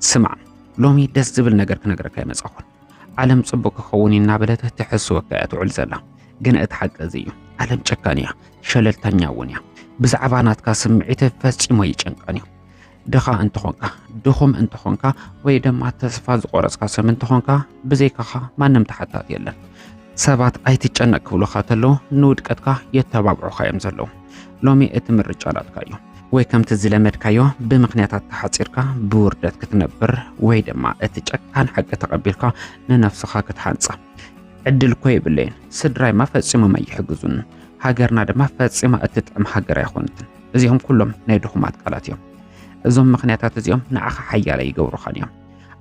ስማዕ ሎሚ ደስ ዝብል ነገር ክነግረካ ይመጻኹን ዓለም ጽቡቕ ክኸውን እናበለት ትሕስወካ እያ ትውዕል ዘላ ግን እቲ ሓቂ እዚ እዩ ዓለም ጨካን እያ ሸለልተኛ እውን እያ ብዛዕባ ናትካ ስምዒት ፈጺሞ ይጨንቀን እዩ ድኻ እንተኾንካ፣ ድኹም እንተኾንካ ወይ ድማ ተስፋ ዝቆረጽካ ሰብ እንተኾንካ ብዘይካኻ ማንም ተሓታት የለን። ሰባት ኣይትጨነቅ ክብሉኻ ተለዉ ንውድቀትካ የተባብዑኻ እዮም ዘለዉ። ሎሚ እቲ ምርጫ ናትካ እዩ። ወይ ከምቲ ዝለመድካዮ ብምክንያታት ተሓፂርካ ብውርደት ክትነብር ወይ ድማ እቲ ጨካን ሓቂ ተቐቢልካ ንነፍስኻ ክትሓንፃ ዕድል እኮ የብለይን። ስድራይማ ፈፂሞም ኣይሕግዙን። ሃገርና ድማ ፈፂማ እትጥዕም ሃገር ኣይኾነትን። እዚኦም ኩሎም ናይ ድኹማት ቃላት እዮም። እዞም ምኽንያታት እዚኦም ንዓኻ ሓያለ ይገብሩኻን እዮም።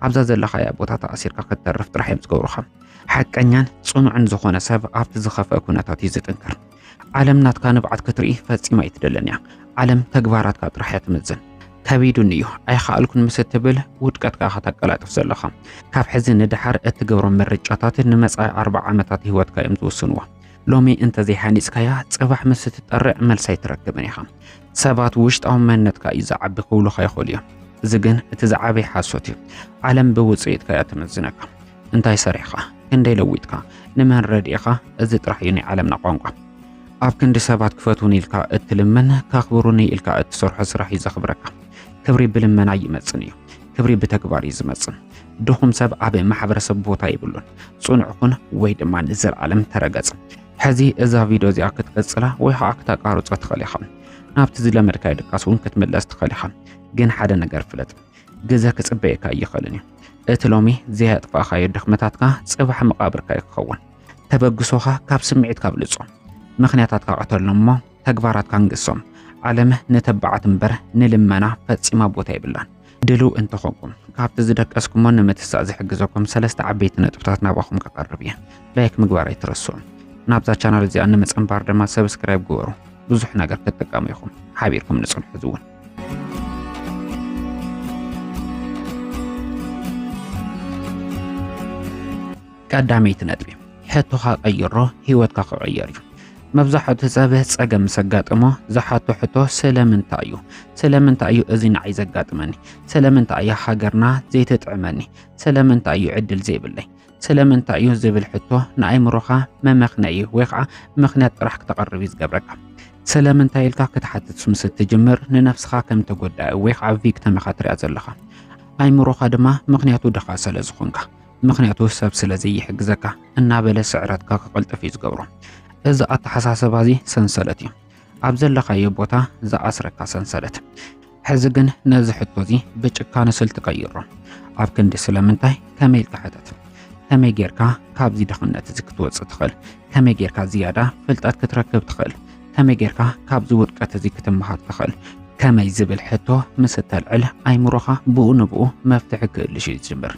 ኣብዛ ዘለኻያ ቦታ ተኣሲርካ ክትተርፍ ጥራሕ እዮም ዝገብሩኻ። ሓቀኛን ጽኑዕን ዝኾነ ሰብ ኣብቲ ዝኸፍአ ኩነታት እዩ ዝጥንክር። ዓለም ናትካ ንብዓት ክትርኢ ፈጺማ ኣይትደልን እያ። ዓለም ተግባራትካ ጥራሕ እያ ትምዝን። ከቢዱን እዩ ኣይኸኣልኩን ምስ እትብል ውድቀትካ ከተቀላጥፍ ዘለኻ ካብ ሕዚ ንደሓር እትገብሮም ምርጫታት ንመጻኢ ኣርባዓ ዓመታት ህይወትካ እዮም ዝውስንዎ። ሎሚ እንተዘይሃኒጽካያ ጽባሕ ምስ እትጠርዕ መልሲ ኣይትረክብን ኢኻ። ሰባት ውሽጣዊ መንነትካ እዩ ዝዓቢ ክብሉኻ ይኽእሉ እዮም። እዚ ግን እቲ ዝዓበየ ሓሶት እዩ። ዓለም ብውጽኢትካ እያ ትምዝነካ። እንታይ ሰሪሕኻ፣ ክንደይ ለዊጥካ፣ ንመን ረድኢኻ፣ እዚ ጥራሕ እዩ ናይ ዓለምና ቋንቋ። ኣብ ክንዲ ሰባት ክፈትውኒ ኢልካ እትልምን ከኽብሩኒ ኢልካ እትሰርሖ ስራሕ እዩ ዘኽብረካ። ክብሪ ብልመና ይመጽን እዩ፣ ክብሪ ብተግባር እዩ ዝመጽን። ድኹም ሰብ ኣብ ማሕበረሰብ ቦታ ይብሉን። ጽኑዕ ኩን ወይ ድማ ንዘለዓለም ተረገጽ። ሕዚ እዛ ቪድዮ እዚኣ ክትቅጽላ ወይ ከዓ ክተቃርጾ ትኽእል ኢኻ። ናብቲ ዝለመድካዮ ድቃስ እውን ክትምለስ ትኽእል ኢኻ። ግን ሓደ ነገር ፍለጥ፣ ግዘ ክጽበየካ ኣይኽእልን እዩ። እቲ ሎሚ ዘየጥፋእኻዮ ድኽመታትካ ጽባሕ መቓብርካ እዩ ክኸውን። ተበግሶኻ ካብ ስምዒትካ ኣብልጾ፣ ምኽንያታትካ ቀተሎም እሞ ተግባራት ካንግሶም ዓለም ንተባዓት እምበር ንልመና ፈጺማ ቦታ የብላን። ድልው እንተኾንኩም ካብቲ ዝደቀስኩሞ ንምትሳእ ዝሕግዘኩም ሰለስተ ዓበይቲ ነጥብታት ናባኹም ከቐርብ እየ። ላይክ ምግባር ኣይትረስዑ። ናብዛ ቻናል እዚኣ ንምጽንባር ድማ ሰብስክራይብ ግበሩ። ብዙሕ ነገር ክትጥቀሙ ኢኹም። ሓቢርኩም ንጽንሑ ዝውን ቀዳመይቲ ነጥቢ ሕቶኻ ቀይሮ ህይወትካ ክቕየር እዩ። መብዛሕቱ ሰብ ጸገም ምስ ኣጋጠሞ ዝሓቶ ሕቶ ስለምንታይ እዩ? ስለምንታይ እዩ እዚ ንዓይ ዘጋጥመኒ? ስለምንታይ እያ ሃገርና ዘይትጥዕመኒ? ስለምንታይ እዩ ዕድል ዘይብለይ? ስለምንታይ እዩ ዝብል ሕቶ ንኣይምሮኻ መመኽነዪ ወይ ከዓ ምኽንያት ጥራሕ ክተቐርብ እዩ ዝገብረካ። ስለምንታይ ኢልካ ክትሓትት ምስ እትጅምር ንነፍስኻ ከም ተጎዳኢ ወይ ከዓ ቪክተም ኢኻ ትሪኣ ዘለኻ። ኣይምሮኻ ድማ ምኽንያቱ ድኻ ስለ ዝኾንካ ምክንያቱ ሰብ ስለ ዘይሕግዘካ እናበለ ስዕረትካ ክቕልጥፍ እዩ ዝገብሮ። እዚ ኣተሓሳስባ እዚ ሰንሰለት እዩ፣ ኣብ ዘለኻዮ ቦታ ዝኣስረካ ሰንሰለት። ሕዚ ግን ነዚ ሕቶ እዚ ብጭካነ ስልቲ ቀይሮ። ኣብ ክንዲ ስለምንታይ ከመይ ኢልካ ሕተት። ከመይ ጌርካ ካብዚ ድኽነት እዚ ክትወፅእ ትኽእል? ከመይ ጌርካ ዝያዳ ፍልጠት ክትረክብ ትኽእል? ከመይ ጌርካ ካብዚ ውድቀት እዚ ክትመሃር ትኽእል ከመይ ዝብል ሕቶ ምስ እተልዕል ኣይምሮኻ ብኡ ንብኡ መፍትሒ ክእልሽ እዩ ዝጅምር።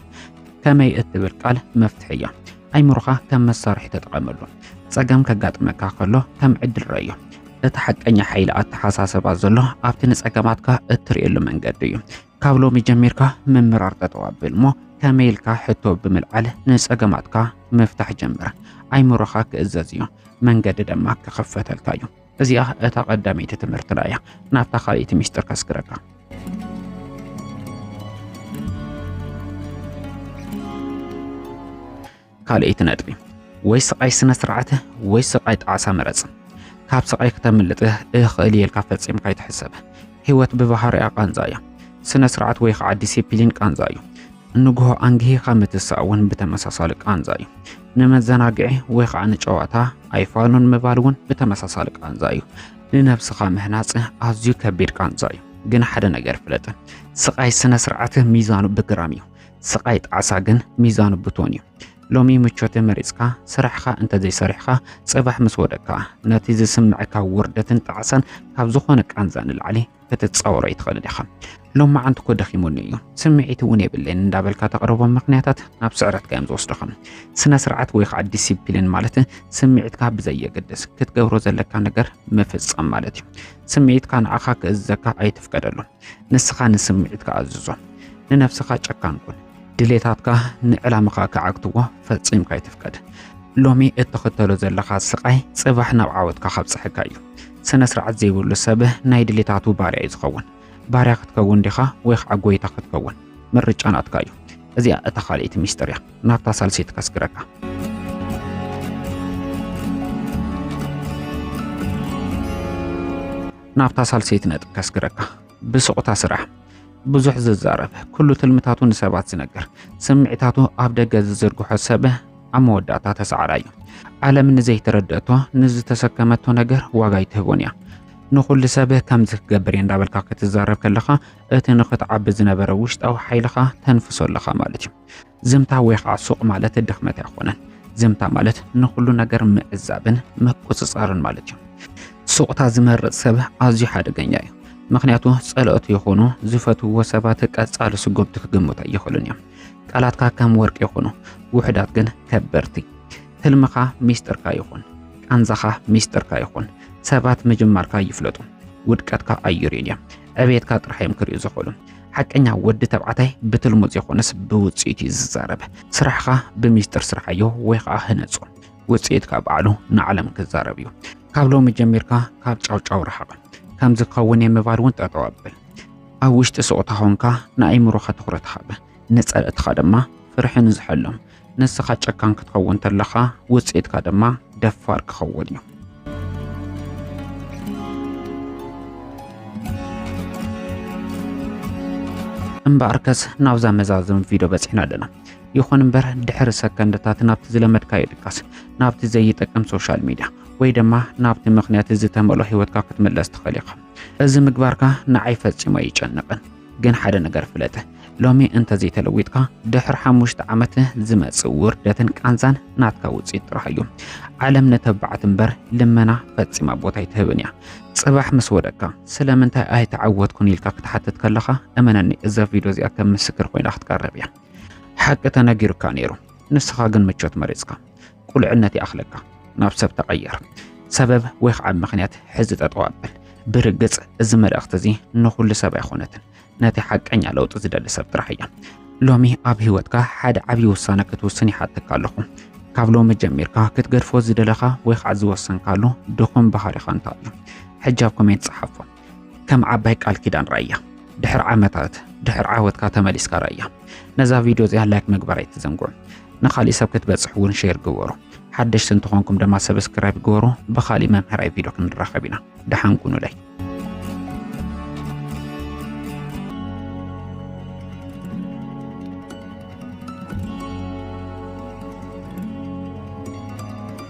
ከመይ እትብል ቃል መፍትሒ እያ። ኣይምሮኻ ከም መሳርሒ ተጠቐመሉ። ጸገም ከጋጥመካ ከሎ ከም ዕድል ረዮ። እቲ ሓቀኛ ሓይሊ ኣተሓሳሰባ ዘሎ ኣብቲ ንጸገማትካ እትርእየሉ መንገዲ እዩ። ካብ ሎሚ ጀሚርካ ምምራር ጠጠው ኣብል እሞ ከመይ ኢልካ ሕቶ ብምልዓል ንጸገማትካ ምፍታሕ ጀምር። ኣይምሮኻ ክእዘዝ እዩ፣ መንገዲ ድማ ክኽፈተልካ እዩ። እዚኣ እታ ቀዳመይቲ ትምህርትና እያ። ናብታ ካልእቲ ሚስጥር ከስግረካ። ካልኤይቲ ነጥቢ ወይ ስቓይ ስነ ስርዓት ወይ ስቓይ ጣዕሳ ምረጽ። ካብ ስቓይ ክተምልጥ እኽእል እየ ኢልካ ፈጺምካ ኣይትሕሰብ። ህይወት ብባህሪኣ ቃንዛ እያ። ስነ ስርዓት ወይ ከዓ ዲሲፕሊን ቃንዛ እዩ። ንግሆ ኣንግሂኻ ምትሳእ እውን ብተመሳሳሊ ቃንዛ እዩ። ንመዘናግዒ ወይ ከዓ ንጨዋታ ኣይፋሉን ምባል እውን ብተመሳሳሊ ቃንዛ እዩ። ንነብስኻ ምህናጽ ኣዝዩ ከቢድ ቃንዛ እዩ። ግን ሓደ ነገር ፍለጥ፣ ስቓይ ስነ ስርዓት ሚዛኑ ብግራም እዩ። ስቓይ ጣዕሳ ግን ሚዛኑ ብቶን እዩ። ሎሚ ምቾተ መሪጽካ ስራሕኻ እንተዘይሰሪሕኻ ጽባሕ ምስ ወደካ ነቲ ዝስምዕካ ውርደትን ጣዕሳን ካብ ዝኾነ ቃንዛ ንላዕሊ ክትጻወሮ ኣይትኽእልን ኢኻ። ሎማዓንቲ እኮ ደኺሙኒ እዩ ስምዒት እውን የብለይን እንዳበልካ ተቕርቦም ምክንያታት ናብ ስዕረትካ እዮም ዝወስድኻ። ስነ ስርዓት ወይ ከዓ ዲሲፕሊን ማለት ስምዒትካ ብዘየገድስ ክትገብሮ ዘለካ ነገር ምፍጻም ማለት እዩ። ስምዒትካ ንዓኻ ክእዘካ ኣይትፍቀደሉ። ንስኻ ንስምዒትካ ኣዝዞ። ንነፍስኻ ጨካን ኩን። ድሌታትካ ንዕላምኻ ክዓግትዎ ፈጺምካ ኣይትፍቀድ። ሎሚ እትኽተሎ ዘለኻ ስቓይ ጽባሕ ናብ ዓወትካ ካብጽሐካ እዩ። ስነ ስርዓት ዘይብሉ ሰብ ናይ ድሌታቱ ባርያ እዩ ዝኸውን። ባርያ ክትከውን ዲኻ ወይ ከዓ ጎይታ ክትከውን ምርጫ ናትካ እዩ። እዚኣ እታ ካልኣይቲ ሚስጥር እያ። ናብታ ሳልሰይቲ ከስግረካ። ናብታ ሳልሰይቲ ነጥብ ከስግረካ ብስቑታ ስራሕ ብዙሕ ዝዛረብ ኩሉ ትልምታቱ ንሰባት ዝነገር ስምዒታቱ ኣብ ደገ ዝዝርግሖ ሰብ ኣብ መወዳእታ ተሰዓራ እዩ ዓለም ንዘይተረድአቶ ንዝተሰከመቶ ነገር ዋጋ ይትህቦን እያ ንኹሉ ሰብ ከምዚ ክገብር እየ እንዳበልካ ክትዛረብ ከለኻ እቲ ንኽትዓቢ ዝነበረ ውሽጣዊ ሓይልኻ ተንፍሶ ኣለኻ ማለት እዩ ዘምታ ወይ ኸዓ ሱቕ ማለት ድኽመት ኣይኾነን። ዘምታ ማለት ንኹሉ ነገር ምዕዛብን ምቁጽጻርን ማለት እዩ። ሱቕታ ዝመርጽ ሰብ ኣዝዩ ሓደገኛ እዩ። ምክንያቱ ጸለኦት ይኹኑ ዝፈትውዎ ሰባት ቀጻሊ ስጉምቲ ክግምቱ ኣይኽእሉን እዮም። ቃላትካ ከም ወርቂ ይኹኑ፣ ውሑዳት ግን ከበርቲ። ህልምኻ ሚስጥርካ ይኹን፣ ቃንዛኻ ሚስጥርካ ይኹን። ሰባት ምጅማርካ ይፍለጡ፣ ውድቀትካ ኣዩርዩን እዮም። ዕብየትካ ጥራሕ እዮም ክሪኡ ዝኽእሉ። ሓቀኛ ወዲ ተባዕታይ ብትልሙ ዘይኮነስ ብውፅኢት እዩ ዝዛረብ። ስራሕኻ ብሚስጥር ስርሓዮ ወይ ከዓ ህነፆ። ውፅኢትካ በዓሉ ንዓለም ክዛረብ እዩ። ካብ ሎሚ ጀሚርካ ካብ ጫውጫው ረሓቕ። ከምዚ ክኸውን እየ ምባል እውን ጠጠው ኣብል። ኣብ ውሽጢ ስቕታ ኾንካ ንኣእምሮኻ ትኹረት ሃብ፣ ንፀላእትኻ ድማ ፍርሒ ንዝሐሎም። ንስኻ ጨካን ክትኸውን ተለኻ ውፅኢትካ ድማ ደፋር ክኸውን እዩ። እምበኣርከስ ናብዛ መዛዘሚ ቪድዮ በፂሕና ኣለና። ይኹን እምበር ድሕሪ ሰከንድታት ናብቲ ዝለመድካዮ ድቃስ፣ ናብቲ ዘይጠቅም ሶሻል ሚድያ ወይ ድማ ናብቲ ምክንያት ዝተመልኦ ህይወትካ ክትምለስ ትኽእል ኢኻ። እዚ ምግባርካ ንዓይ ፈፂሙ ኣይጨንቕን። ግን ሓደ ነገር ፍለጥ፣ ሎሚ እንተዘይተለዊጥካ ድሕሪ ሓሙሽተ ዓመት ዝመጽእ ውርደትን ቃንዛን ናትካ ውጽኢት ጥራሕ እዩ። ዓለም ንተባዕት እምበር ልመና ፈጺማ ቦታ ኣይትህብን እያ። ጽባሕ ምስ ወደቅካ ስለምንታይ ኣይተዓወትኩን ኢልካ ክትሓትት ከለኻ እመነኒ እዛ ቪድዮ እዚኣ ከም ምስክር ኮይና ክትቀርብ እያ። ሓቂ ተነጊሩካ ነይሩ፣ ንስኻ ግን ምቾት መሪጽካ። ቁልዕነት ይኣኽለካ ናብ ሰብ ተቐየር። ሰበብ ወይ ከዓ ምኽንያት ሕዚ ጠጠው ኣብል። ብርግፅ እዚ መልእኽቲ እዚ ንኹሉ ሰብ ኣይኾነትን፣ ነቲ ሓቀኛ ለውጢ ዝደሊ ሰብ ጥራሕ እያ። ሎሚ ኣብ ህይወትካ ሓደ ዓብዪ ውሳነ ክትውስን ይሓተካ ኣለኹ። ካብ ሎሚ ጀሚርካ ክትገድፎ ዝደለኻ ወይ ከዓ ዝወሰንካሉ ድኹም ባህሪኻ እንታይ እዩ? ሕጂ ኣብ ኮሜንት ፀሓፎ። ከም ዓባይ ቃል ኪዳን ራያ ድሕሪ ዓመታት ድሕሪ ዓወትካ ተመሊስካ ራያ ነዛ ቪድዮ እዚኣ ላይክ ምግባር ኣይትዘንግዑ ንካሊእ ሰብ ክትበፅሕ እውን ሼር ግበሩ ሓደሽቲ እንትኾንኩም ድማ ሰብስክራይብ ግበሩ ብካሊእ መምህራዊ ቪድዮ ክንራኸብ ኢና ደሓን ኩኑለይ